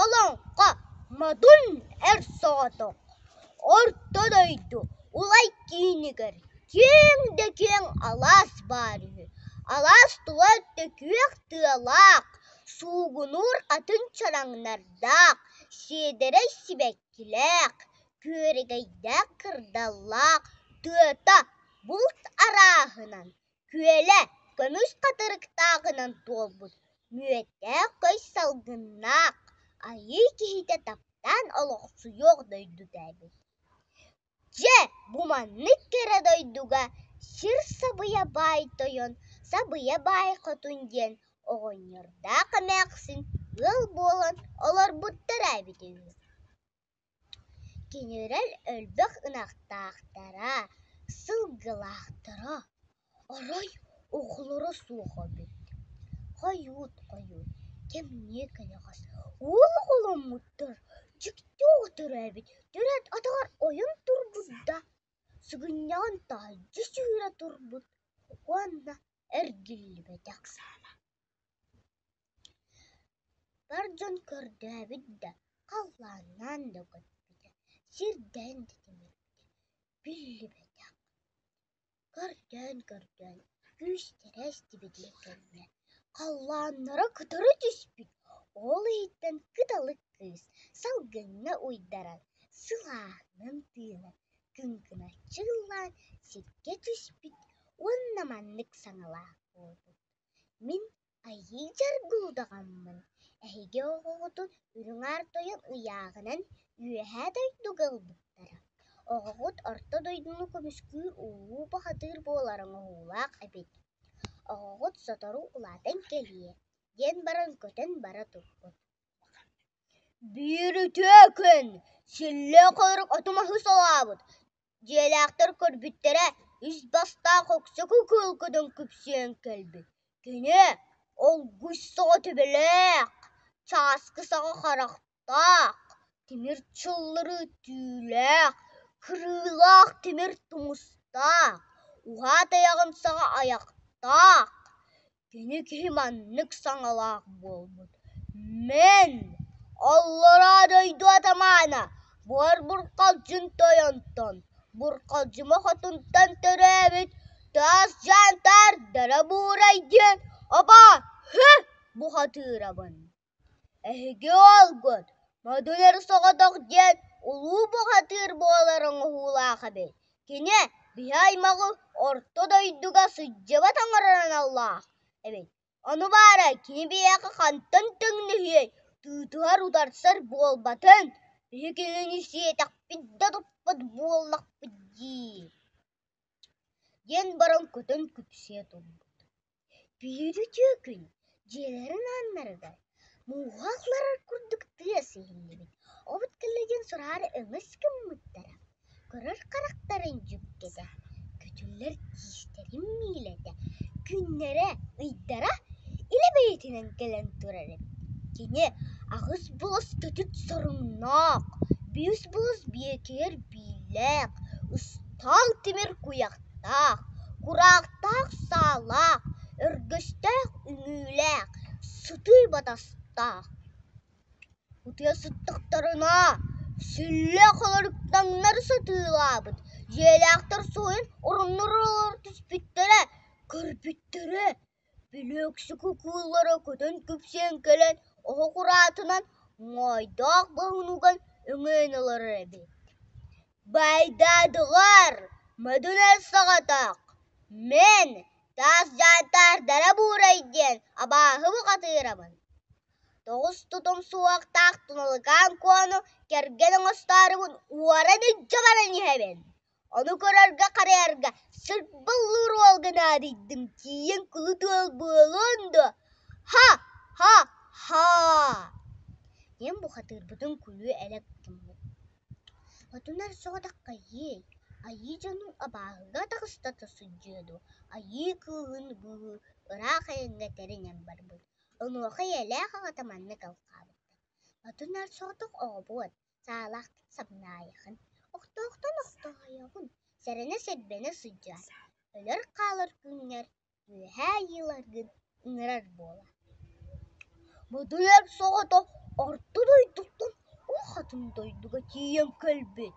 Олоҥхо модун эр соҕотох Орто дойду улай киинигэр киэҥ да киэҥ алаас баар үһү. Алаас тула төкүөх тыалаах, суугунуур атын чараҥнардаах, сиэдэрэй сибэккилээх, күөрэгэйдээх кырдаллаах тыата булт арааһынан күөлэ көмүс хатырыктааҕынан туолбут мүөттээх көс салгыннаах айыы киһитэ таптаан олохсуйуох дойдута эбит дьэ бу маннык кэрэ дойдуга сир сабыйа баай тойон сабыйа баай хотун диэн оҕонньордоох эмээхсин ыал буолан олорбуттара эбит үһү Кинилэр элбэх ынахтаахтара, сылгылаахтара, арай оҕолоро суох эбит, хойут хойут кэмниэ кэнэҕэс уол оҕоломмуттар дьикти оҕолоро эбит, төрөөт атаҕар ойон турбут да сыгынньаҕын таһырдьа сүүрэ турбут уонна эргиллибэтэх Бар дьон көрдөөбүт да, халлааннаан да көппүтэ, сирдээн да тимирбитэ биллибэтэх. Көрдөөн-көрдөөн күүстэрэ эстибитин кэннэ, халлааннара кытары түспүт, ол иһиттэн кыталык кыыс салгыҥҥа уйдаран, сылааһынан тыынан, кыҥкыначчы ыллаан сиргэ түспүт уонна маннык саҥалаах буолбут: Мин айыы дьаргуудаҕаммын, эһиги оҕоҕутун үрүҥ-аар тойон ыйааҕынан үөһээ дойдуга ылбыттара. Оҕоҕут орто дойдуну көмүскүүр улуу бухатыыр буолар оҥоһуулаах эбит. Оҕоҕут сотору улаатан кэлиэ, диэн баран көтөн бара турбут. Биир үтүө күн, силлиэ-хойрук оту-маһы солообут Дьиэлээхтэр көрбүттэрэ үс бастаах уксуку кыылкытын күпсүөн кэлбит. Кини олгуйс саҕа төбөлөөх, чааскы саҕа харахтаах, тимир чыллары түүлээх, кырыылаах тимир тумустаах, уһаат айаҕын саҕа айахтаах. Кини киһи маннык саҥалаах буолбут: «Мин аллараа дойду атамаана буор-бурҕалдьын тойонтон, бурҕалдьыма хотунтан төрөөбүт таас дьаантаардара буурай» диэн обо-һү бухатыырабын Эһиги уолгут модуляр соҕотох диэн улуу бухатыыр буолар оҥоһуулаах эбит, кини биһи аймаҕы орто дойдуга сылдьыбат оҥорор аналлаах эбит, ону баара кини биһиэхэ хантан төннүһүөй, тыытыһар утарсар буолбатын, биһи кинини сиэтэхпит да туппат буоллахпыт дии диэн баран көтөн күпсүйэ турбут Бүлүрүтүө күн дьиэлэрин ааннарыгар мууһа атларар курдук тыас иһиллибит от кэлэ диэн сураҕар өҥөс гыммыттара көрөр харахтарын дьүккэтэ көтүллэр тиистэрин миилэтэ күннэрэ ыйдара илэ бэйэтинэн кэлэн турар эбит кини аҕыс болос көтүт соруннаах биэс болос биэкиэр бииллээх Таал тимир куйахтаах, кураахтаах саалаах, өргөстөөх үнүүлээх, сытыы батастаах утуйа сыттахтарына, сүллэ холоруктаннар сатыылаабыт дьиэлээхтэр суойун оронноругар түспүттэрэ, көрбүттэрэ Бүлүүксү кукуулара көтөн күпсээн кэлэн оһох ураатынан моойдоох боһунуган өҥөйөн ылара эбит Байдадылар, Мөдунэл соҕотох, мин таас дьаатаардара буурай диэн абааһы бухатыырабын тоҕус тутум суохтаах туналыкаан куону кэргэн оҥостоорубун уоран илдьэ баран иһэбин Ону көрөргө-харайарга сырбыллыыр уолга наадыйдым, тиийэн кулут уол буолуон дуо? Ха-ха-ха! диэн бухатыырбытын кулүү элэ гутуммут. Хотунар соҕотоххойуй, айыы дьонун абааһыга таҕыстата сылдьыа дуо, айыы кыыһын быыһыы ыраах айаҥҥа тэринэн барбыт, онуоха ийэлээх аҕата маннык алҕаабыттар: «Хотунар соҕотох оҕобуот, саалаахтык сабынаайыхын, охтоохтон охтоойоҕун, сэрэнэ-сэрбэнэ сылдьар, өлөр-хаалар күҥҥэр үөһээ айыыларгын ыҥырар буолар. Модуйар соҕото орто дойдуттан у хотун дойдуга тиийэн кэлбит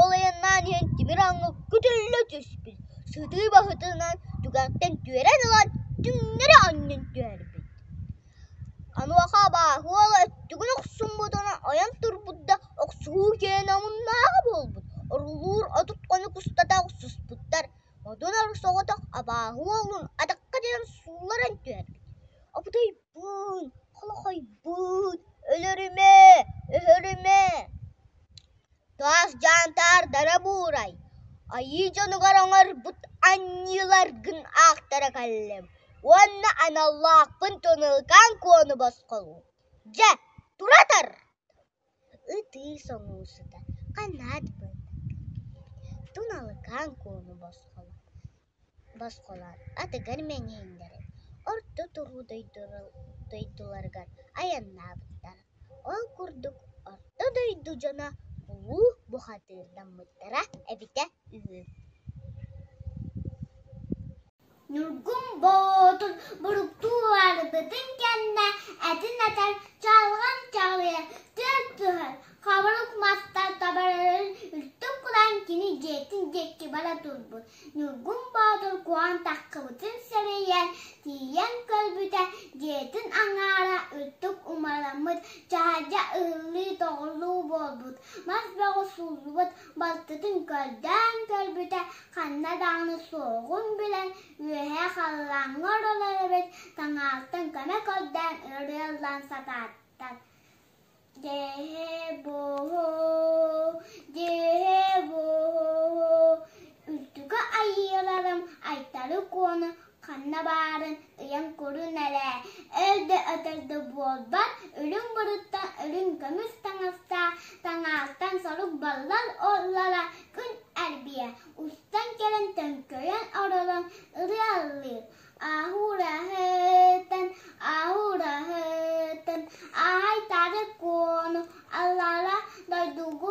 Ол айаннаан иһэн тимир аҥы көтөллө түспүт, сытыы баһытынан түгэхтэн түөрэн ылан түҥнэри анньан түһэрбит. Онуоха абааһы уола өттүгүн охсуммутун ойон турбут да охсуһуу киэнэ омуннааҕа буолбут, орулуур отут хонук устата охсуспуттар, модун ор соҕотох абааһы уолун атахха тиэрэн суулларан түһэрбит. Буун, холохойбуун, өлөрүмэ, өһөрүмэ Таас дьаантаардара буурай, айыы дьонугар оҥорбут анньыыларгын аахтара кэллим уонна аналлаахпын Тунылкаан Куону босхолуур Дьэ, туратар ытыы соҥуу сыта канаат быатык туналыкаан куону босхолоон атыгар мэҥэйиннэрэн орто туруу дойдуларыгар айаннаабыттара ол курдук орто дойду дьоно улуу бухатыырдаммыттара эбитэ үһү Ньургун Боотун буруктууларбытын кэннэ этин этэр чалган чалыйа түөрт түһэр хабырык маста табарарын үлтүк гынан кини дьиэтин диэки бара турбут Ньургун Боотур куһан таххыбытын сэрэйэн тиийэн көрбүтэ дьиэтин аҥаара үрдүк умараммыт чаһадьа ыһыллыы-тоҕуллуу буолбут мас бөҕү сууллубут балтытын көрдөөн көрбүтэ ханна даҕаны суоҕун билэн үөһээ халлааҥҥа оролор эбит таҥаалтан көмө көрдөөн өрө ыллаан сатаатар дээһэ бооһоо дээһэ бооһоо үрдүкү айыыларым Айтары Куону ханна баарын ыйан көрүн эрэ, өл да өтөр да буолбат, үрүҥ бырыттан үрүҥ көмүс таҥастаах таҥааттан сорук баллар оллара күн эрбийэ, устан кэлэн төҥкөйөн оролон ырыаллыыр. Ааһуур аһыытын, ааһуур аһыытын, ааһай тары куону аллара дойдугу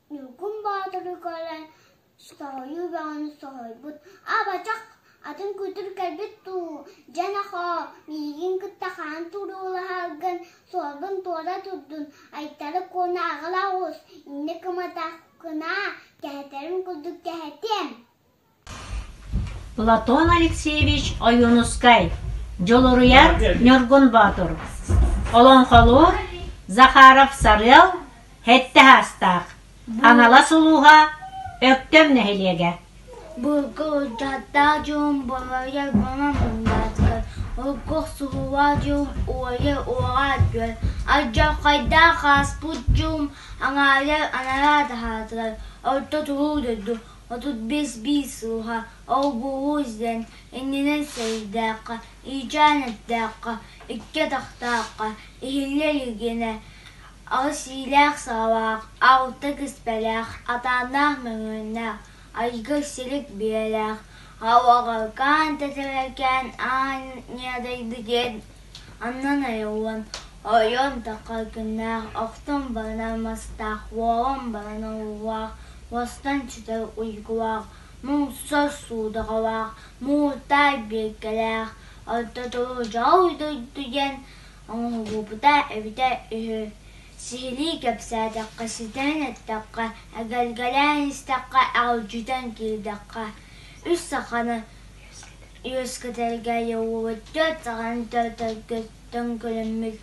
Ньургун Боотуру көрөн соһуйуу бөҕөнү соһуйбут Абачах атын кутур кэлбит дуу дьэ-нохоо миигин кытта хаан туруулаһаргын суолбун туора турдун Айтары Куона аҕала оҕус иннэ кыматаххына кэһэтэрин курдук кэһэтиэм Платон Алексеевич Ойуунускай, дьулуруйар Ньургун Боотур, олоҥхолуур Захаров-Сарыал сэттэ саастаах, Аналас улууһа Өктөм нэһилиэгэ. Булгурдатта дьон болойо бона муҥнаатыгар, оггохсулуа дьон уойа уоҕа дьүөл, алдьархайдаах ааспыт дьон аҥаалар анараа таһаатылар, орто туруу дойду Отут биэс биир сылга Олбуһу издэн, иннинэн сэриилээххэ, иичээн эттээххэ, икки атахтаахха, иһиллэ илигинэ аҕыс иилээх-саалаах, алта киспэлээх, атааннаах мөҥүөннээх, айгыр силик биэлээх, алҕалкаан, тэтэрэлкээн аан ньыадайбы диэн Оннун ойуун, ойуун тоҕо күннээх охтон баран мастаах, уоҕун баран уулаах, уостан сүтэр уйгулаах, муҥсар суудаҕалаах, муҥутаах биэргэлээх, ортотугар дьоҕур дойду диэн оҥоһуллубута эбитэ үһү. Сиһилии кэпсээтэххэ, ситэрэн эттэххэ, эгэлгэлээн истэххэ, аҕалдьытан киирдэххэ, үс саханы Үөскэтэргэ уопутчут саҕан төрөппүттэн көрөммүт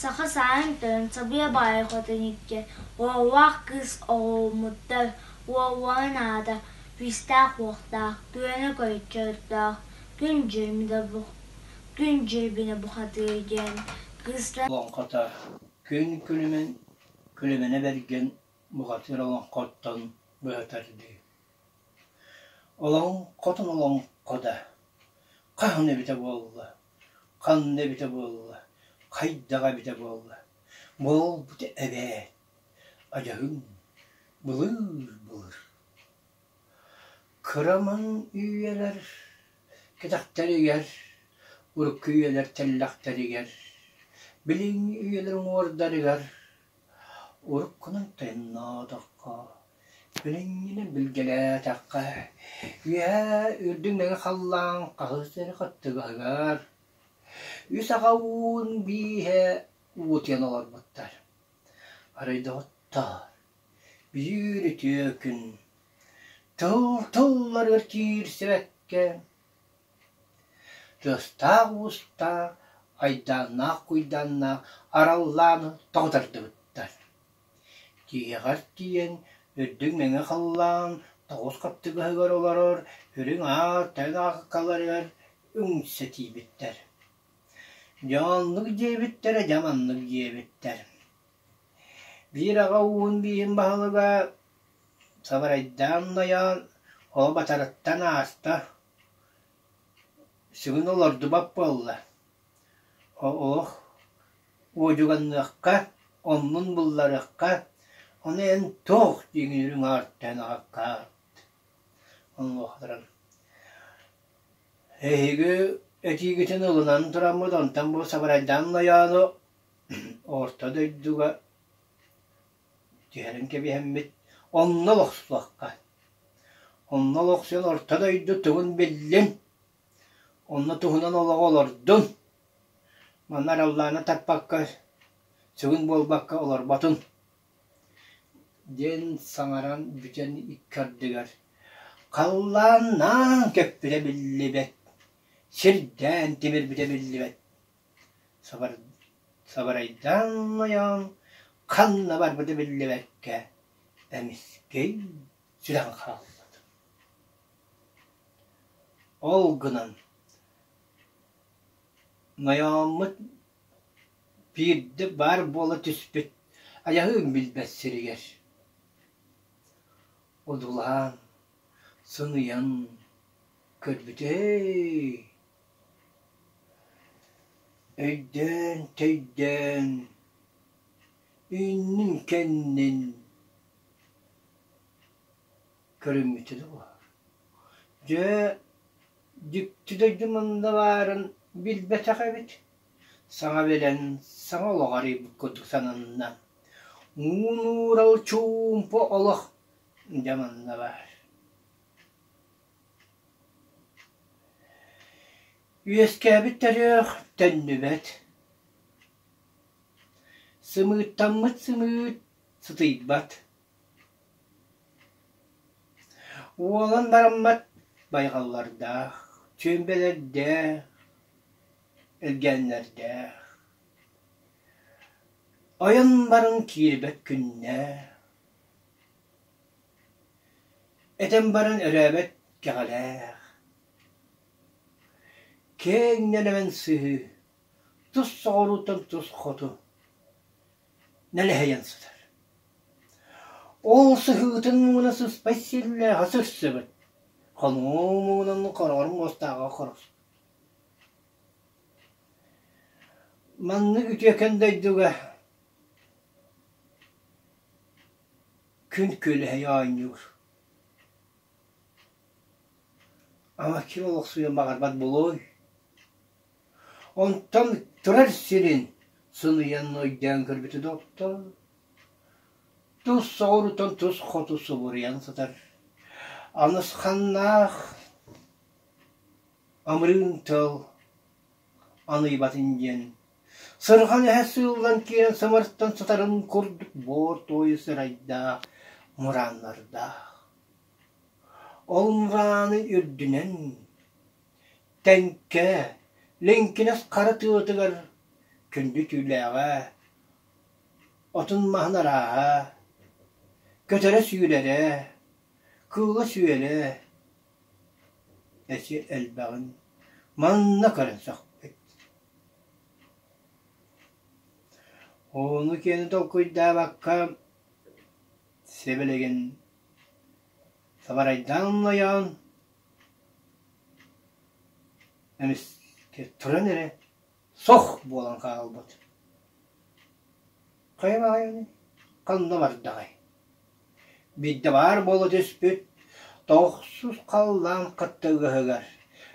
саха саһын төрүн сабыа баайа хотун икки уоллаах кыыс оҕоломмуттар уоллаах наада физтаах-уохтаах күөнэ көрчөрдөөх күн дьирбинэ бухатыыр диэн кыыстар олоҥхото күн күлүмэн күлүмэнэ бэргэн бухатыыр олоҥхоттон быһа тардыы Олоҥ хотун олоҥхо да хаһан эбитэ буолла, ханна эбитэ буолла, хайдаҕа эбитэ буолла, буолбут эбээт, адьаһыҥ былыыр-былыр. Кыраман үйэлэр кэтэхтэригэр, урукку үйэлэр тэллэхтэригэр, билиҥҥи үйэлэр уҥуордарыгар Уруккунан тойонноотоххо, күнүҥҥүнэн билгэлээтэххэ, үөһээ үрдүн мэҥэ халлаан хаһыс эрэ хаттыгаһыгар үс аҕа уун бииһэ уутуйан олорбуттар. Арай доҕоттоор, бүдүүр үтүө күн тыл тылларыгар киирсибэккэ Тыастаах-уустаах, айдааннаах-куйдааннаах араллааны тоҕутардыбыттар. Тииһэҕэр тиийэн, үрдүк мэҥэ халлаан тоҕус хаттыгаһыгар олорор үрүҥ аар тэҥ ааккаларыгар үҥсэтиибиттэр. Дьэ оннук диэбиттэрэ дьэ маннык диэбиттэр: «Биир аҕа ууһун бииһин баһылыга Сабарайдаан Нойоон ол батарыттан ааста, сүгүн олордубат буолла, оһ, уодьуганныахха, оннун булларыахха, ону эн туох дьиҥиир үҥэҕиттэн аҕыккаат, онуохтаран эһиги этиигитин ылынан тураммыт, онтон бу Сабарайдаан Нойоону орто дойдуга Түһэрин кэбиһэммит, онно олохсуохха. Онно олохсуйан орто дойду тугун биллин, онно туһунан олоҕу олордун. Манна араллааны таппакка, сыгын буолбакка олорботун. диэн саҥаран бүтэн икки ардыгар халлааннаан көппүтэ биллибэт, сирдээн тимирбитэ биллибэт. Сабарайдаан ойоон ханна барбыта биллибэккэ эмискэй сүрэҕин хааллыбыт Ол гынан ойооммут биирдэ баар буола түспүт айаһыын билбэт сиригэр одуулаан сыныйан көрбүт ээ Өйдөөн-төйдөөн, үүннүн-кэннин көрүммүтэ дуо? Дьэ, дьикти дойду мунна баарын билбэтэх эбит. Саҥа билэн, саҥа олох арыйбыт курдук сананна. Уун-уурал чуумпу олох дьэ манна баар. Үөскээбит төрүөх төннүбэт, сымыыттаммыт сымыыт сытыйбат, уолан бараммат байҕаллардаах, чүөмпэлэрдээх, элгээннэрдээх, ойон баран киирбэт күннээх. Этэн баран өрөөбөт кэҕэлээх, киэҥ нэлэмэн сыһыы тус соҕурууттан тус хоту нэлэһийэн сытар. Ол сыһыытын муҥуна сыспай силлээҕэ сырсыбыт, хонуу муҥунан хороҕор муостааҕа хорохсут. Маннык үтүөкэн дойдуга Күн күөлэһийэ оонньуур Ама ким олохсуйан баҕарбат буолуой? Онтон турар сирин сыныйан нойдеон көрбүтэ доктор тус соҕурутан тус хоту субуруйан сытар анысханнаах амрыын тыал аныйбатын диэн Сырҕан эһэ сыыллан киирэн сымартан сытарын курдук буор-туойу сырайдаах мырааннардаах. Ол мырааны үрдүнэн Тэҥкэ Лэҥкинэс хара тыатыгар күндү түүлээҕэ отун маһын арааһа, көтөрө сүүрэрэ, кыыла сүөлэ Эчи элбэҕин манна көрөн сөхпүт Ону-киэни толкуйдаабакка сэбилигин сабарайдаан ойоон эмискэ туран эрэ Сох буолан хаалбыт. Хайа баҕайыный, ханна бардаҕай? Биирдэ баар буола түспүт тохсус халлаан хаттыгыһыгар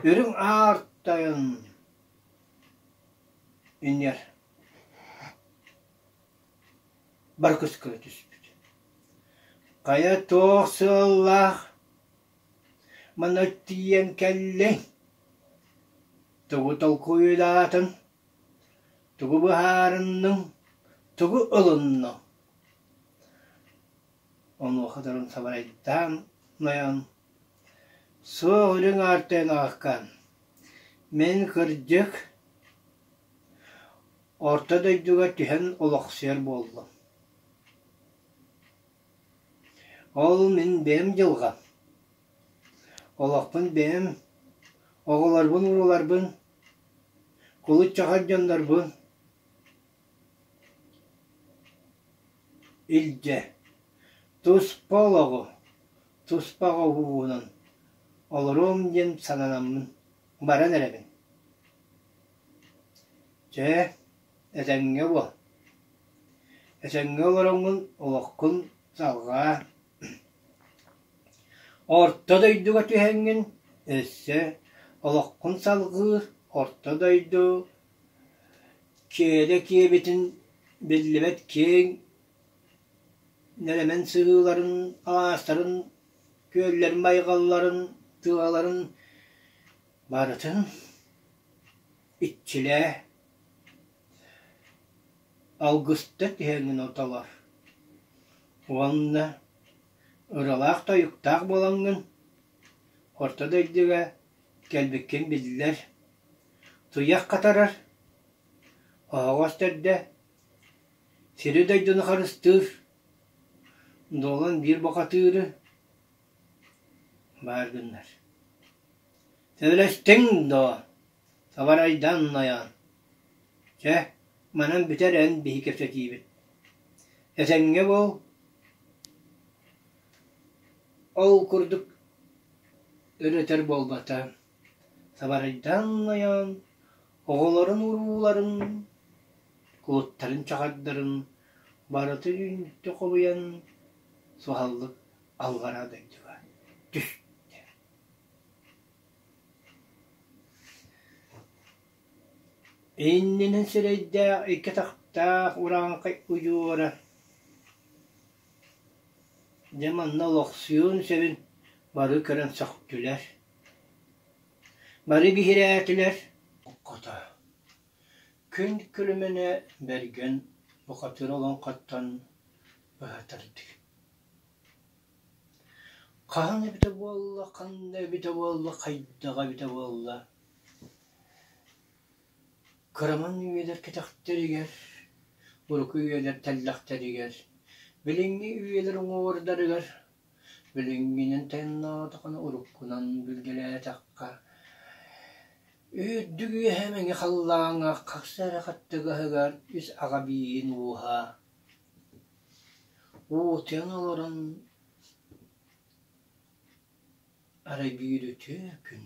үрүҥ аар тойон иннигэр барыкыс гына түспүт. Хайа туох сыаллаах Маны тиийэн кэллиҥ, тугу толкуйдаатыҥ, тугу быһаарынныҥ, тугу ылынныҥ? Онуохаторун сабарайдаан нойон, «Суох, үрүҥ аартыгын аҕаккаан, мин, кырдьык, орто дойдуга түһэн олохсуйар буоллум» Ол мин бэйэм дьылҕам. Олохпун бэйэм оҕолорбун-урууларбын, кулут-чахар дьоннорбун илдьэ, туспа олоҕу, туспа оҕо уруулан олоруом диэн сананаммын баран эрэбин. Чэ, Этэҥҥэ буол. Этэҥҥэ олороҥҥун, олоххун салҕаа. Орто дойдуга түһэҥҥин өссө олоххун салҕыыр орто дойду киэдэ киэбитин биллибэт киэҥ нэлэмэн сыһыыларын, алаастарын, күөллэрин байҕалларын, тыаларын барытын иччилээ, алгыста түһэҥҥин отолор уонна ыралаах-тойуктаах буолаҥҥын орто дойдуга кэлбиккин биллэр туйах хатарар оһоҕос төрдө сири-дойдуну харыстыыр дуолан биир бухатыыры баар гыннар сөбүлэстиҥ доо Сабарайдан айаан Чэ, манан бүтэр эн биһи кэпсэтиибит. Эсэҥҥэ буол. Ол курдук өлөтөр буолбата. Сабарайдан айаан оҕолорун урууларын, кулуттарын чаҕардарын барыта үүннүктү холуйан суһаллык аллараа дойдуга түстэ. Иннинэн сирэйдээх, икки атахтаах урааҥхай удьуора дьэ манна олохсуйуон сөбүн бары көрөн сөхтүлэр, бары биһирээтилэр, хото күн күлүмэнэ Бэргэн бухатыыр олоҥхоттон быһа тардыы Хаһан эбитэ буолла, ханна эбитэ буолла, хайдах эбитэ буолла кыраман үйэлэр кэтэхтэригэр, урукку үйэлэр тэллэхтэригэр, билиҥҥи үйэлэр уҥуоҕурдарыгар билиҥҥинэн тайаннаатаххына уруккунан билгэлээтэххэ үрдүк үөһэ мэҥэ халлааҥҥа хахса эрэ хаттыгаһыгар ис аҕа бииһин ууһа уутун олорон эрэ биирүтүө күн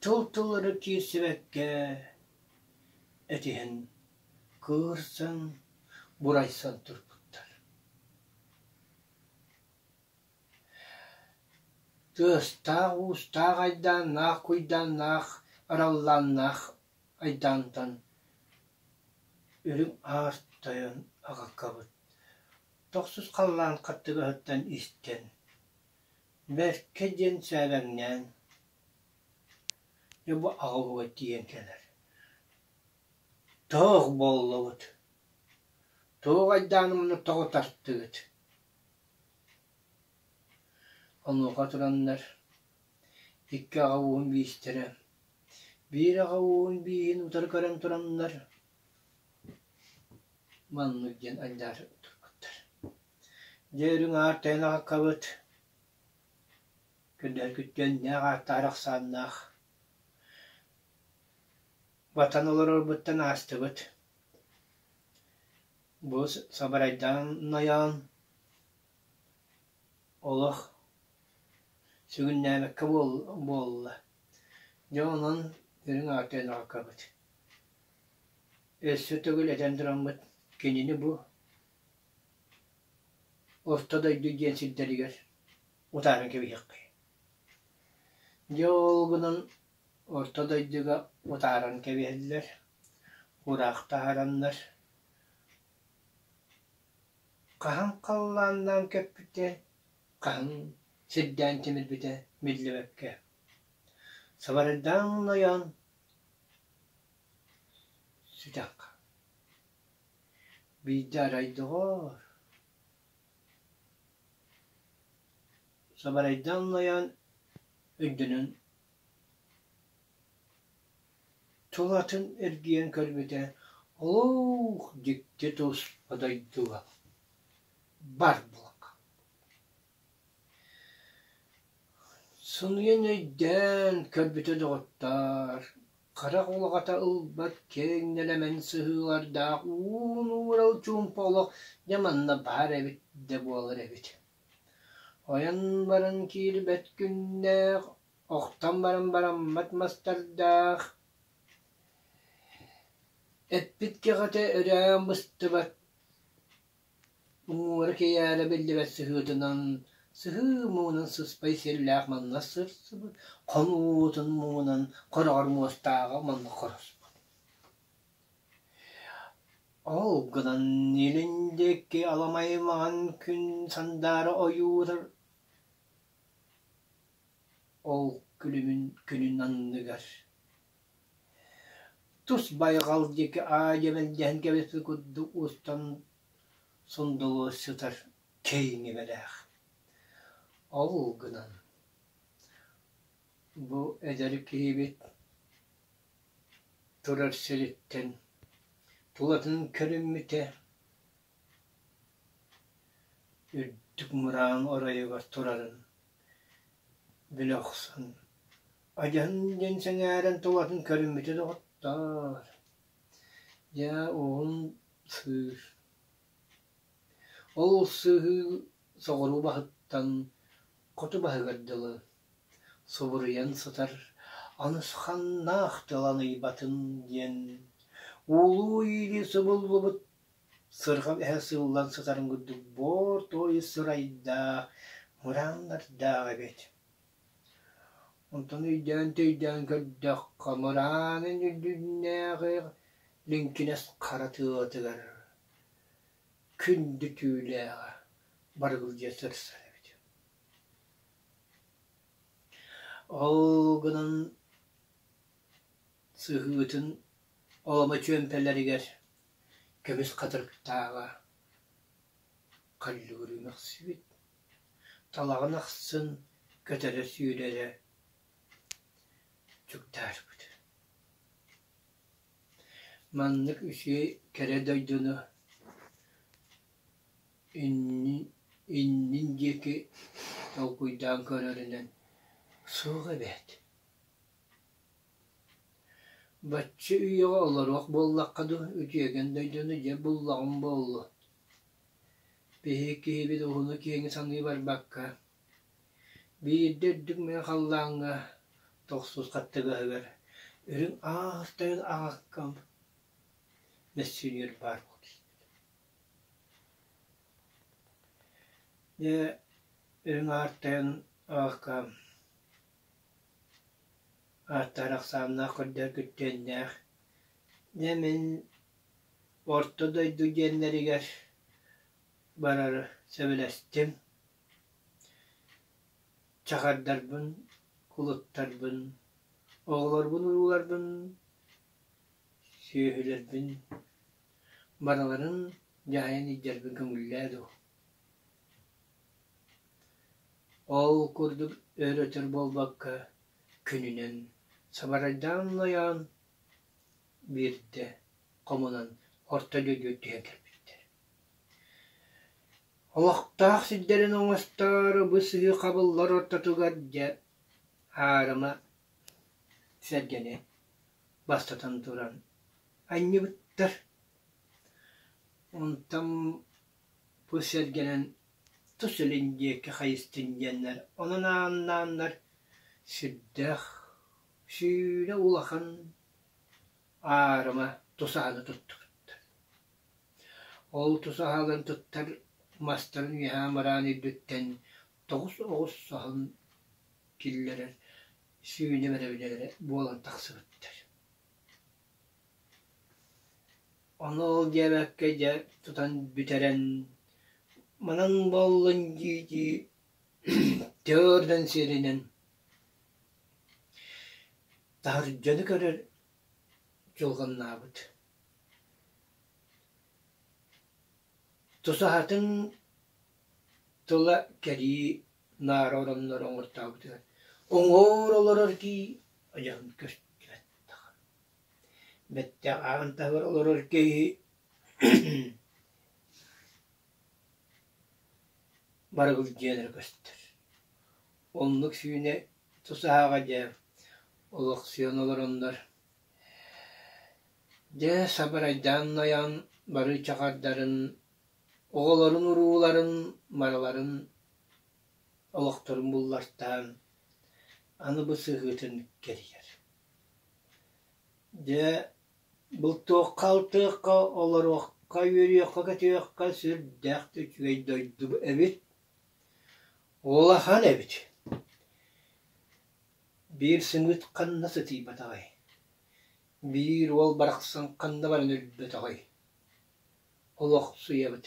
тыл-тыллары киирсибэккэ этиһэн кыырсан бурайсан турбуттар тыастаах уустаах айдааннаах куйдааннаах араллааннаах Айдаантан үрүҥ аар тойон аҕакабыт тохсус халлаан хаттыгаһыттан истэн «Бэркэ» диэн сээбэҥнээн «Дьэ бу аҕабыга тиийэн кэлэр, тоох буоллубут, туох айдааныманы тоҕо тартыгыт?» Онуоха тураннар икки аҕа ууһун биистэрэ Биир аҕа уун бииһин утары көрөн тураннар маннык диэн аньдаарыйан турбуттар: «Дьэ, үрүҥ аар тэйэн аҕаккабыт, көрдөһөргүттэн нээх ааттаах ахсааннаах ватан олорорбуттан аастыбыт. Бу сабарайдаан айаан Олох сүгүннээбэккэ буолла, дьэ онон үрүҥ ааты өн аҕалкабыт. Өссө төгүл этэн тураммыт, кинини бу Орто дойду диэн сирдэригэр утааран кэбиһиэххэ. Дьэ ол гынан Орто дойдуга утааран кэбиһэллэр, кураах таһаараннар Хаһан халлааннаан көппүтэ, хаһан сирдээн тимирбитэ биллибэккэ. Сабарыйдаан ойоон сүтэххэ. Биирдэ арай доҕоор сабарыйдаан ойоон үрдүнэн Тулатын эргийэн көрбүтэ, олук дьикти тус одойдуга барбылык Сыныйан өйдөөн көрбүтэ доҕоттоор, харах улаҕата ылбат киэҥ нэлэмэн сыһыылардаах уун-уурал чуумпа олох дьэ манна баар эбит да буолар эбит. Ойон баран киирбэт күннээх Охтон баран бараммат мастардаах, эппит кэҕэтэ өрөөн быстыбат, уҥуора кэйээрэ биллибэт сыһыытынан, сыһыы муҥунан сыспай сиэллээх манна сырсыбыт, хонуутун муҥунан хороҕор муостааҕа манна хороспут. Ол гынан илин диэки аламай маҥан күн сандаара ойуурар Ол күлүмүн күнүн анныгар тус байҕал диэки аайы мэлдьэһэн кэбиспит курдук устан сундулуу сытар киэҥ ibэлээх. Ол гынан бу эдэр киһибит турар сириттэн тулатын көрүммүтэ үрдүк мырааҥ оройугар турарын билэ охсон, адьаһын диэн сэҥээрэн тулатын көрүммүтэ доҕоттоор, дьэ уолун сыыр. Ол сыыһыы соҕуруу баһыттан хоту баһыгар дылы субуруйан сытар анысханнаах тылан ыйбатын диэн, уулуу-иилии субуллубут Сырҕан эһэ сыыллан сытарын курдук буор-туой сырайдаах, мырааннардаах эбит. Онтон өйдөөн-төйдөөн көрдөххө, мыраанын үрдүннээҕи лиҥкинэс хара тыатыгар күндү түүлээҕэ барылдьа сырсар эбит. Ол гынан сыһыытын оломо чүөмпэлэригэр көмүс хатырыктааҕа халлыгырыы мөхсүбүт, талаҕын ахсын көтөрө сүүрэрэ чуктаарбыт. Маннык үчүгэй кэрэ дойдуну иннин диэки толкуйдаан көрөрүнэн суох эбээт Бачча үйэҕэ олоруох буоллахха дуу, үтүөкэн дойдуну дьэ буллаҕым буолуо, биһи киһибит уһуну-киэҥи саныы барбакка, биирдэ үрдүк мэҥэ халлааҥҥа тохсус хаттыгаһыгар үрүҥ аастарын аҕаккам мөссүөнүгэр баар буолбут дьэ, үрүҥ аартайын аҕаккаам Ааттаах ахсааннаах көрдөр күттүөннээх Дьэ мин Орто дойду диэннэригэр барары сөбүлэстим. Чахардарбын, кулуттарбын, оҕолорбун-урууларбын, сүөһүлэрбин барыларын дьаһайан илдьэрбин көҥүллээ дуу Ол курдук өр-өтөр буолбакка, күнүнэн сабарайдаан улайаан, биирдэ хомунан орто дойду үрдүгэр кэлбиттэр. Олохтоох сирдэрин оҥостоору бу сыһыы хабыллар ортотугар дьэ аарыма сэргэни бастатан туран анньыбыттар. Онтон Бу сэргэнэн тус илин диэки хайыстын диэннэр онон ааннааннар сирдээх, сүүрэ улахан аарыма тус аһыны туттубуттар. Ол тус аһыларын туттар мастарын үөһээ мыраан үрдүттэн тоҕус оҕус аһын киллэрэр сүүнэ бэрэбинэлэрэ буолан тахсыбыттар Ону ол диэбэккэ дьэ тутан бүтэрэн манан буоллун дии-дии тыырдан сиэринэн таһырдьа дьону көрөр дьылҕаннаабыт. Тусаһатын тыла кэрии Наар ороннор оҥортообутугар уҥуор олорор кии ойоҕун көртүбэт даҕаны. Бэттэх ааҕан таһыгар олорор киһи барыгыл дьиэн эрэ көстөр. Оннук сүүнэ тусааҕа дьэ олохсуйан олороннор дьэ сабырайдаан ойон барыы чакардарын оҕолорун урууларын барыларын Олохторун буллартаан аны бу сыһыытын кэрийэр. Дьэ, бултуохха, алтыахха, олоруохха, үөрүөххэ-көтүөххэ сүрдээх да үчүгэй дойду эбит. Улахан эбит. Биир сымыыт ханна сытыйбатаҕай? Биир уол барахсан ханна баран өлбөтөҕүй? Олохсуйабыт.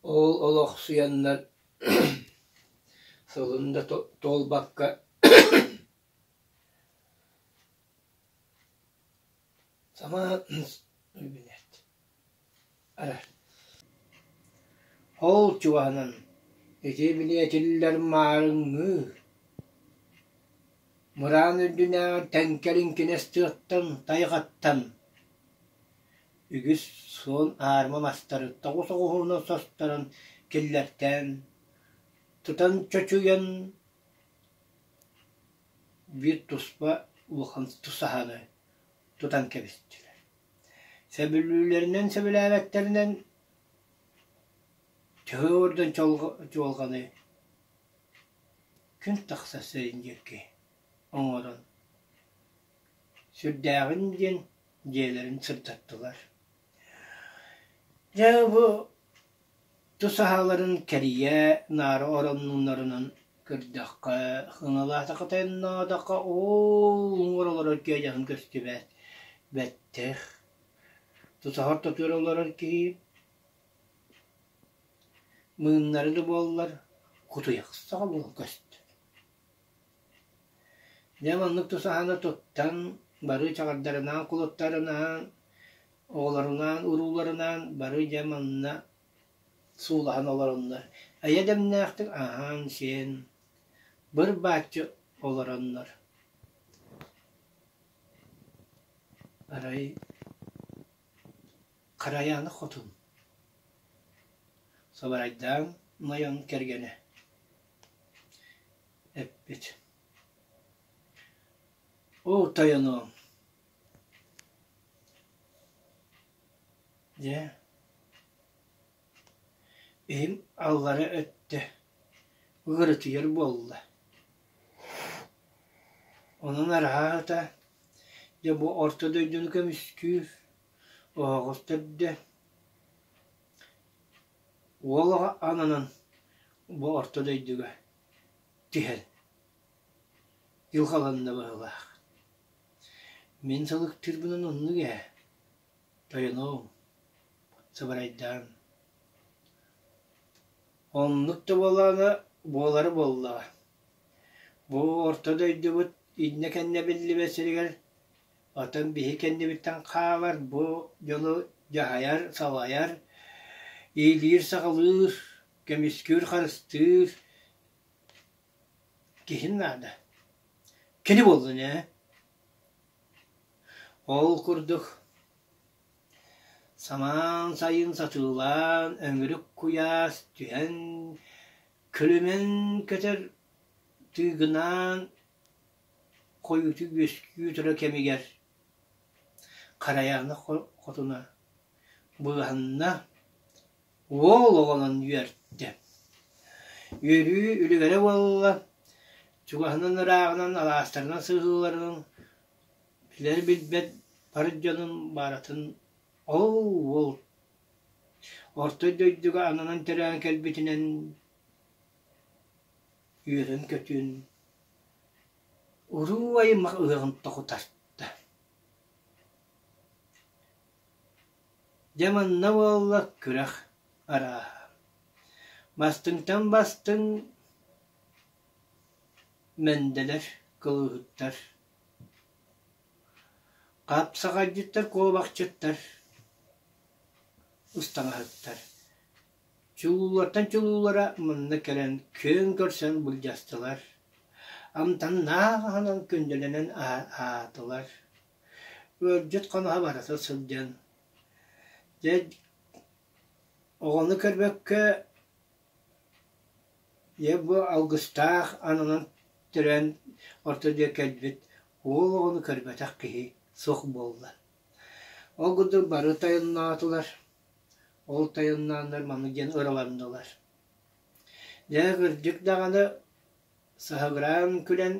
Ол олохсуйаннар сылын да туолбакка сама ол чугаһынан ити билиэтиллэр маарыҥҥыы Мыраан үрдүнээҕи тэҥкэлин кинэс тыаттан, тайҕаттан үгүс суон аарыма мастары тоҕу соҕуһуруна состаран киллэртээн, тутан чочуйан, биир туспа улахан тусаһаны тутан кэбистилэр. Сөбүлүүллэринэн сөбүлээбэттэринэн, төһө уордан чуолҕаны күн тахса сирин диэки оҥорон сүрдээҕин диэн дьиэлэрин сырдаттылар. Дьэ бу тус аһаларын кэрийэ наара ороннууннарынан көрдөххө, хыҥалаатахытыннаатахха ол уҥуор олорор киһи дьаһын көстүбэт, бэттэх. Тусаһар тутур олорор киһи Мыыннары да буоллар кутуйахсаҕа буола көстөр. Дьэ маннык тусаһаны туттан бары чаҕардарынаан кулуттарынаан оҕолорунаан урууларынаан бары дьэ манна суулаһан олороннор эйэ дэмнээхтик аһаан-сиэн быр-бааччы олороннор арай Харайааны хотун Сабарайдаан Найан кэргэнэ эппит Оо тойонооҥ Дьэ иһим аллара өттө ыарытыйар буолла Онон арааһата дьэ бу Орто дойдуну көмүскүүр Оһоҕос төрдө, уол оҕо ананан бу орто дойдуга түһэн дьылҕаланна быһыылаах. Мин сылыктыырбынан оннук ээ. Тойоноом, сыбарайдаан. Оннук да буолаана, буолара буоллаҕа. Бу орто дойдубут иннэ-кэннэ биллибэт сиригэр Оттон биһи кэннибиттэн хаалар бу дьону дьаһайар, салайар, иилиир-саҕалыыр, көмүскүүр-харыстыыр киһим наада. Кини буоллун ээ. Ол курдук самаан сайын сатыылаан, өҥүрүк куйаас түһэн, күлүмэн көтөр тыыгынаан Хойуутук үөскүү турар кэмигэр Харайаана хотуна быыһанна, уол оҕолон үөрдэ. Үөрүү үлүгэрэ буолла, чугаһынан ырааҕынан, алаастарынан сыһыыларынан билэр-билбэт бар дьонун бааратын ол уол орто дойдуга ананан төрөөн кэлбитинэн үөрүн-көтүн, уруу-аймах ыаҕын тохутарта. Дьэ манна буолла күрэх арааһа. Бастыҥтан бастыҥ Мэндэлэр, кылыыһыттар, хапсаҕайдьыттар, куобахчыттар, ыстаҥаһыттар Чулуулартан чулуулара мунна кэлэн күөн көрсөн былдьастылар, амтаннаах аһынан күндүлэнэн аһаатылар. Ыалдьыт хоноһо барыта сылдьан, дьэ, оҕону көрбөккө, дьэ, бу алгыстаах ананан төрөөн орто дьиэ кэлбит уол оҕону көрбөтөх киһи суох буолла. Ол курдук бары тойонноотулар. Ол тойоннооннор маннык диэн ыраланнылар. Дьэ, кырдьык даҕаны саһыгыраан күлэн,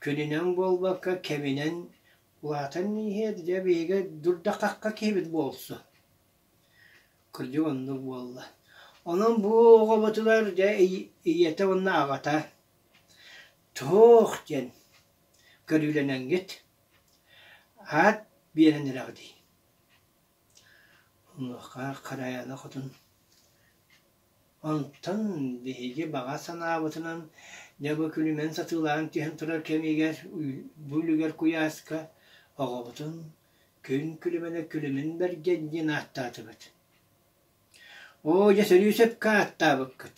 күнүнэн буолбакка, кэминэн улаатан иһиэр, дьэ, биһиги дурдаххахха киһибит буолсун. Кырдьык оннук буолла. Онон бу оҕобутугар, дьэ, ийэтэ уонна аҕата туох диэн көрүүлэнэҥҥит аат биэрэн эрэҕитий? Онуоха Харайана хотун «Онтон биһиги баҕа санаабытынан дьэ бу күлүмэн сатыылаан түһэн турар кэмигэр бу үлүгэр куйааска оҕобутун күн күлүмэнэ күлүмүн бэргэн диэн ааттаатыбыт. Оо дьэ сөрүү сөпкө ааттаабыккыт.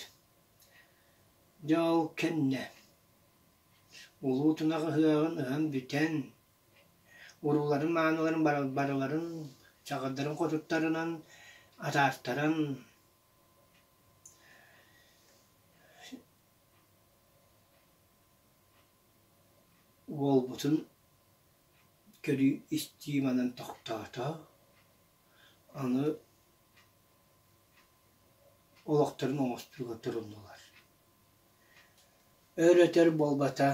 Дьэ ол кэннэ улуу тунах ыһыаҕын ыһан бүтэн урууларын-мааныларын барыларын чаҕылдарын хотуттарынан атаартаран уолбутун көрүү-истии манан тохтоото аны олохторун оҥостууга туруннулар өр-өтөр буолбата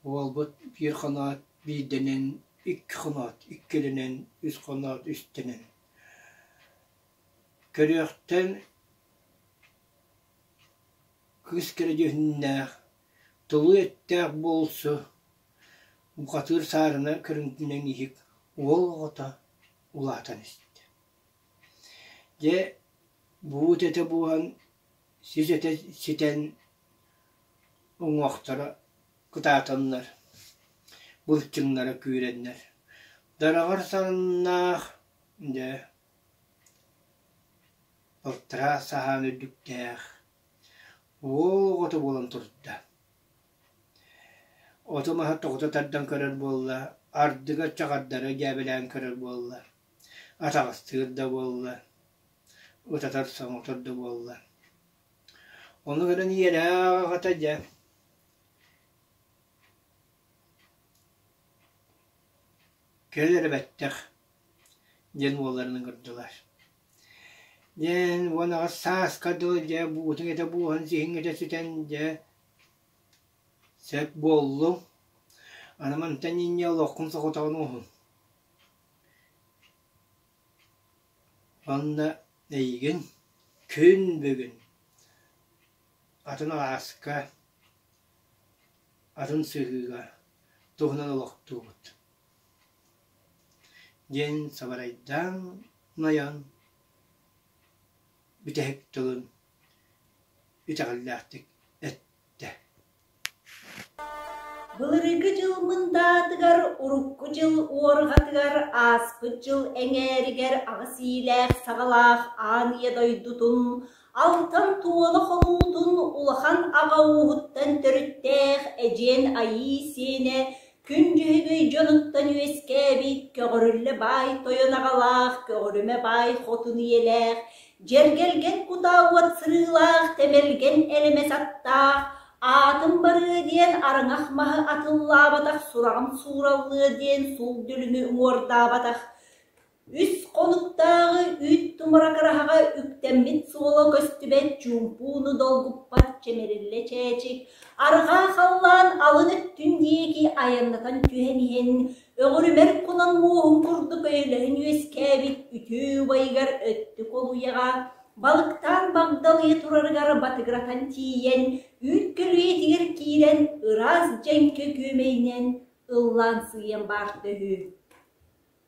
Уолбут биир ханаат биирдэнэн, икки ханаат иккилэнэн, үс ханаат үстэнэн. Көрүөхтэн кыыс кэрэ дьүһүннээх, тулуу эттээх буолсу, бухатыыр саарына көрүҥтүнэн иһик уол оҕото улаатан истэ. Дьэ, буут этэ буолан, сис этэ ситэн, уҥуохтара кытаатыннар, былчыҥнара күүрэннэр, дараҕар саннаах, дьэ, балтараа саһаан үрдүктээх уол оҕото буолан турда. Оту-маһы тоҕута тардан көрөр буолла, ардыга чаҕардары дьээбэлээн көрөр буолла, атаҕастыыр да буолла, утатар соҥотор да буолла Ону көрөн ийэлээх аҕата дьэ кэлэн эрэ бэттэх диэн уолларынан көрдүлэр. Диэн уон аҕас сааска дылы дьэ буутуҥ этэ буоһан сиһиҥ этэ сүтэн дьэ сөп буоллуҥ. Аны мантан инньэ олоххун соҕотоҕун уһун. Манна эйигин күн бүгүн атын алааска, атын сыһыыга туһунан олохтуубут диэн сабарайдаан Найан бүтэһик тылын итэҕэллээхтик эттэ Былырыыҥкы дьыл мындаатыгар урукку дьыл уорҕатыгар ааспыт дьыл эҥээригэр аҕыс иилээх саҕалаах ааныйа дойдутун алтан туола хонуутун улахан аҕа ууһуттан төрүттээх эдьиэн Айыы сиэнэ Күндүһүбүй дьонуттан үөскээбит көҕөрүллэ баай тойон аҕалаах көҕөрүмэ баай хотун ийэлээх дьэргэлгэн кутаа уот сырыылаах тэмэлгэн элэмэс аттаах аатым барыа диэн араҥах маһы атыллаабатах сураҕым суураллыа диэн суул дүлүҥү уҥуордаабатах Үс хонуктааҕы үүт тумара хараһаҕа үктэммит суола көстүбэт чуумпууну долгуппат чэмириллэ чээчик арҕаа халлаан алын өттүн диэки айаннатан түһэн иһэн өҕүрүмэр кунан муоһун курдук өйөлөһөн үөскээбит үтүө убайыгар өттү колуйаҕа балыктаан багдалыйа турарыгар батыгыратан тиийэн үүт көлүйэтигэр киирэн ыраас дьэҥкэ күөмэйинэн ыллаансыйан баарта үһү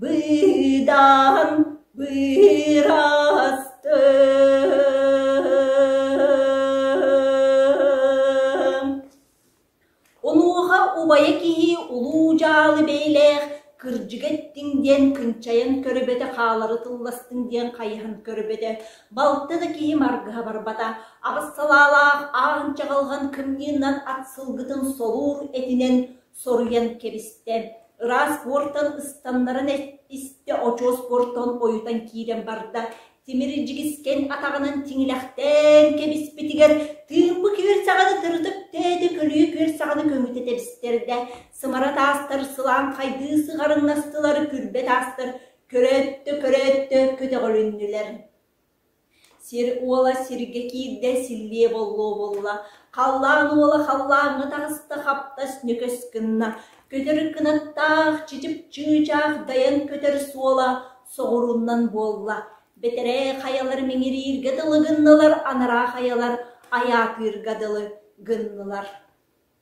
Быдан быраастым Онуоха убайа киһи улуу дьаалы бэйэлээх кырдьыга эттиҥ диэн кынчайан көрбөтө хаалары тылластыҥ диэн хайыһан көрбөтө балта да киһи маргыһа барбата аҕыс салаалаах аан чаҕылҕан кымньыыннан ат сылгытын солуур этинэн соруйан кэбистэ, ыраас буортан ыстаннаран истэ, очуос буортан ойутан киирэн барда. Тимир дьигискэн атаҕынан тиҥилэхтээн кэбиспитигэр тыымпы күөлсэҕэни тырытык тээдэ көлүйэ күөлсэҕэни көҥүтэ тэбистэрдэ. Сымара таастар сылаан хайдыы сыҕарыҥнастылар, күрбэ таастар көрөөттө-көрөөттө көтөҕүлүннүлэр. Сир уола сиргэ киирдэ, силлиэ боллуо буолла, халлаан уола халлааҥҥа таҕыста, хаптас ньөкөс гынна, көтөр кынаттаах, чычып-чыычаах дайан көтөр суола соҕурууннан буолла, бэтэрээ хайалар миҥирииргэ дылы гыннылар, анараа хайалар айаатыырга дылы гыннылар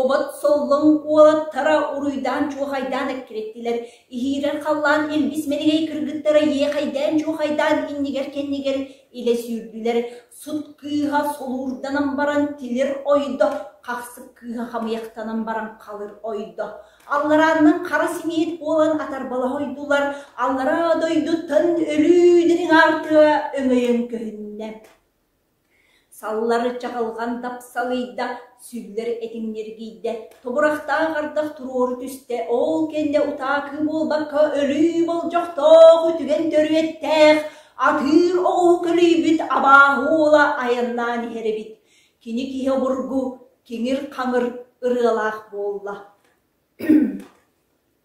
Обот Соллоҥ уолаттара уруйдаан-чуохайдаан эккирэттилэр, иһиирэн-халлаан илгис мэлигэй кыргыттара иэхэйдээн-чуохайдаан иннигэр-кэннигэр илэ сүүрдүлэр, сут кыыһа солуурданан баран тилир ойдо, хахсык кыыһа хамыйахтанан баран халыр ойдо, алларааннан хара симиэт буолан атарбалаһа ойдулар, аллараа дойду тан өлүү дириҥ аартыга өҥөйөн көһүннэ Саллар чаҕылҕан тапсалыйда, сүллэр этиҥньиргийдэ, тобурахтаах ардах туруору түстэ, ол кэннэ утаакыы буолбакка өлүү болдьохтоох үтүгэн төрүөттээх атыыр оҕуһу көлүйбүт абааһы уола айаннаан иһэр эбит, кини киһи обургу, киҥир-хаҥыр ырыалаах буолла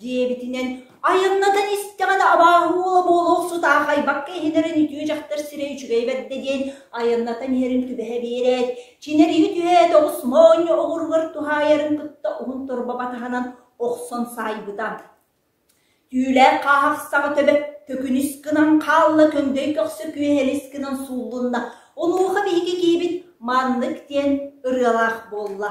диэбитинэн, айаннатан истэҕинэ абааһыла буола охсутаах айбакка иһинэрин үтүө дьахтар сирэ үчүгэй бэрдэ диэн айаннатан иһэрин түбэһэ биэрээт, чинэриһи түһээт оҕус моонньо оҕуругар туһаайарын кытта уһун торбоба таһынан охсон саайбыта. Түүлээх хааһах саҕа төбө төкүнүс гынан хаалла көҥдөй көхсө күөһэлис гынан сууллунна. Онуоха биһиги киибит маннык диэн ырыалаах буолла.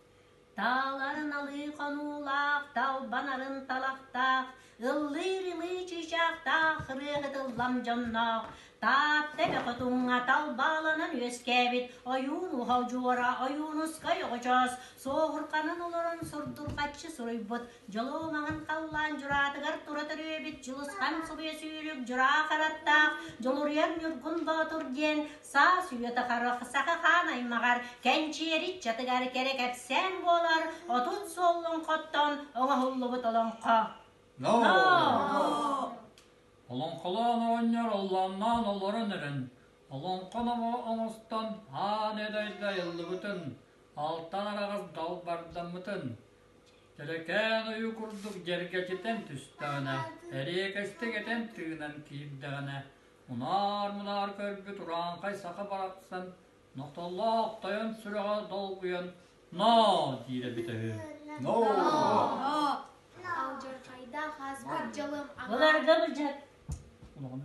Тааларын алыы хонуулаах, талбанарын талахтаах, ыллыыр-ымыы чыычаахтаах ырыаһытыллам дьонноох Таатта эбэ хотуҥҥа талбааланан үөскээбит ойуун уһал дьуора, ойуунускай оҕочоос, суоһурханан олорон сурдурҕаччы суруйбут Дьолуо маҥан халлаан дьураатыгар тура төрүөбүт Дьулусхан субуйа сүүрүк дьураа хараттаах Дьулуруйар Ньургун Боотур диэн саас үйэтэ харах саха хаан аймаҕар кэнчиэри чатыгар кэрэ кэпсээн буолар отут суоллун хоттон оҥоһуллубут олоҥхо. Ноо! Олоҥхолоон оонньор оллааннаан олорон эрэн олоҥхо номо оҥостон аан эдэрдэ айыллыбытын алтан араҕас далбардаммытын Төлөкөөн ойу курдук дьэргэчитэн түстэҕинэ, эриэкэстик этэн тыынан киирдэҕинэ, мунаар-мунаар көрбүт урааҥхай саха барахсан нохтоллоох тойон сүрэҕэ долгуйан «ноо» диирэ эбитэ үһү. «ноо» Алдьархайдаах аспыт дьылым аҕаа. Буларга быдьат. Олоҕун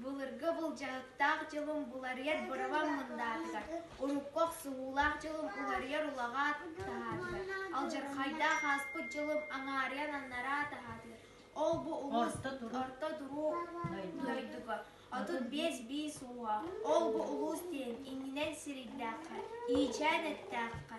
Былыргы былдьаһыктаах дьылым буларыйар быраван мындаатыгар, урукку охсуһуулаах дьылым уларыйар улаҕаат таһаатыгар, алдьархайдаах ааспыт дьылым аҥаарыйан аннараа таһаатыгар. Ол-бу улус орто туруу дойдуга отут биэс биис ууга, ол-бу улуус диэн иннинэн сирийдээххэ, иичээн эттээххэ,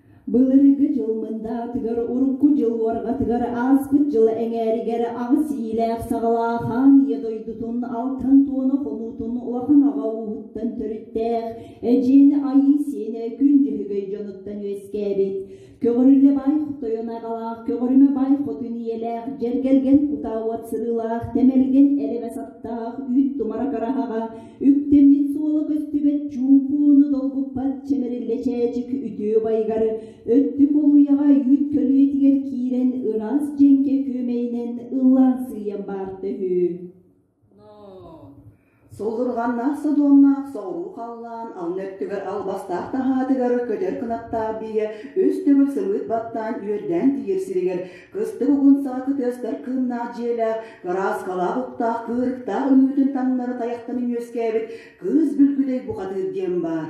Былырыгы дьыл мындаатыгар урукку дьыл уорҕатыгар ааспыт дьыл эҥээригэр аҕыс иилээх-саҕалаах аан ийэ дойдутун алтан туона хонуутун улахан аҕа ууһуттан төрүттээх эдьиийин айыы-сиэнэ күн-дьөһүгэй дьонуттан үөскээбит көҕөрүлэ бай хотойон аҕалаах көҕөрүмэ бай хотун ийэлээх дьэргэлгэн кутаа уот сырыылаах тэмэлгэн элэбэ саттаах үүт тумара кыраһаҕа үктэ мин суола көстүбэт чуумпууну долгуппат чэмэриллэ чээчик үтүө байгар өттүк улуйаҕа үүт көлүөтүгэр киирэн ыраас дьэҥкэ күөмэйинэн ыллаансыйан барта үһү Суллурҕаннаах содуомнаах соҕуруу халлаан алын өттүгэр албастаах таһаатыгар көтөр кынаттаах биигэ үс төгүл сымыыт баттаан үөрдээн тиийэр сиригэр Кыстык угун саакы тыастар кыыннаах дьиэлээх, гарааскалаах уктаах кыырыктаах үҥүүтүн таҥнары тайахтан үҥүөскээбит кыыс бүлгүдэй бухатыыр диэн баар.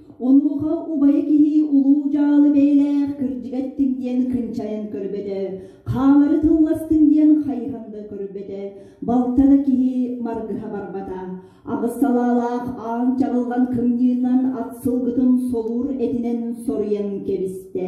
Онуоха убайа киһи улуу дьаалы бэйэлээх кырдьыгаттыҥ диэн кынчайан көрбөтө, хаалары тылластыҥ диэн хайыһан да көрбөтө, балта да киһи маргыһа барбата, аҕыс салаалаах аан чаҕылҕан кымньыынан ат сылгытын солуур этинэн соруйан кэбистэ.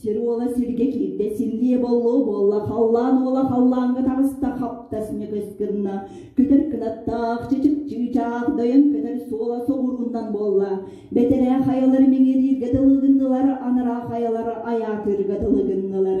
Сир уола сиргэ киирдэ, силлиэ боллоо буолла, халлаан уола халлааҥҥа таҕыста, хаптас ньыгыс гынна, көтөр кынаттаах, чычыкчыы чаах дойон көтөр суола соҕурууннан буолла. Бэтэрээ хайалары миҥирииргэ дылы гыннылар, анараа хайалары айаатыырга дылы гыннылар.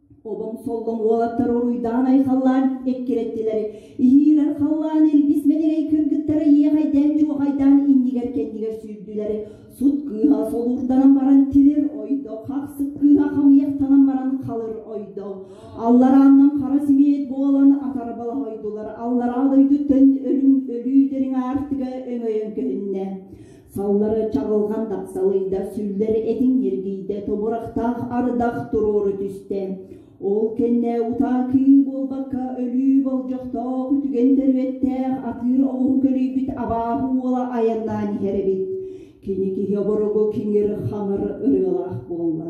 Обом-соллоҥ уолаттар уруйдаан айхаллаан эккирэттилэр. Иһиирэр халлаан илбис мэнирэй кыргыттара иэхайдаан-дьуохайдаан иннигэр-кэннигэр сүүрдүлэр. Сут кыыһа солуурданан баран тилир ойдо, хахсык кыыһа хамыйахтанан баран халыр ойдо. Алларааннан хара симиэт буолан атарбалаһойдулар. Аллараа дойдуттан өлүү дириҥ аартыга өҥөйөн көһүннэ. Саллары чаҕылҕан тахсалыйда, сүллэр этиҥ ньиргийдэ, тобурахтаах ардах туруору түстэ. Ол кэннэ утаа кыым буолбакка өлүү болдьохтоох үтүгэн төрүөттээх атыыр оҕуһу көлүйбүт абааһы уола айаннаан иһэр эбит. Кини киһи оборугу киҥир-хаҥыр ырыалаах буолла.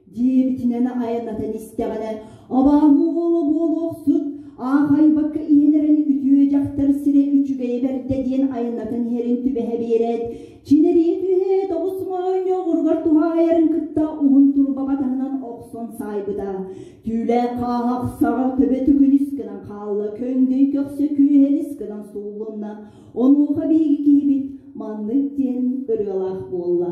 Дьиэбитинэн айаннатан истэҕинэ, абааһы-уола буолуохсут, аахайбакка иһэн эрэн үтүө дьахтар сирэ үчүгэйэ бэрдэ диэн айаннатан иһэрин түбэһэ биэрээт, чинэрийэ түһээт оҕус моонньо оҕуругар туһаайарын кытта уһун турбаба таһынан охсон саайбыта. Түүлээх хаахах саҕа төбө түкүнүс гынан хаалла, көҥдөй көхсө күөһэлис гынан суулунна. Онуоха биһиги киһибит маннык диэн ырыалаах буолла.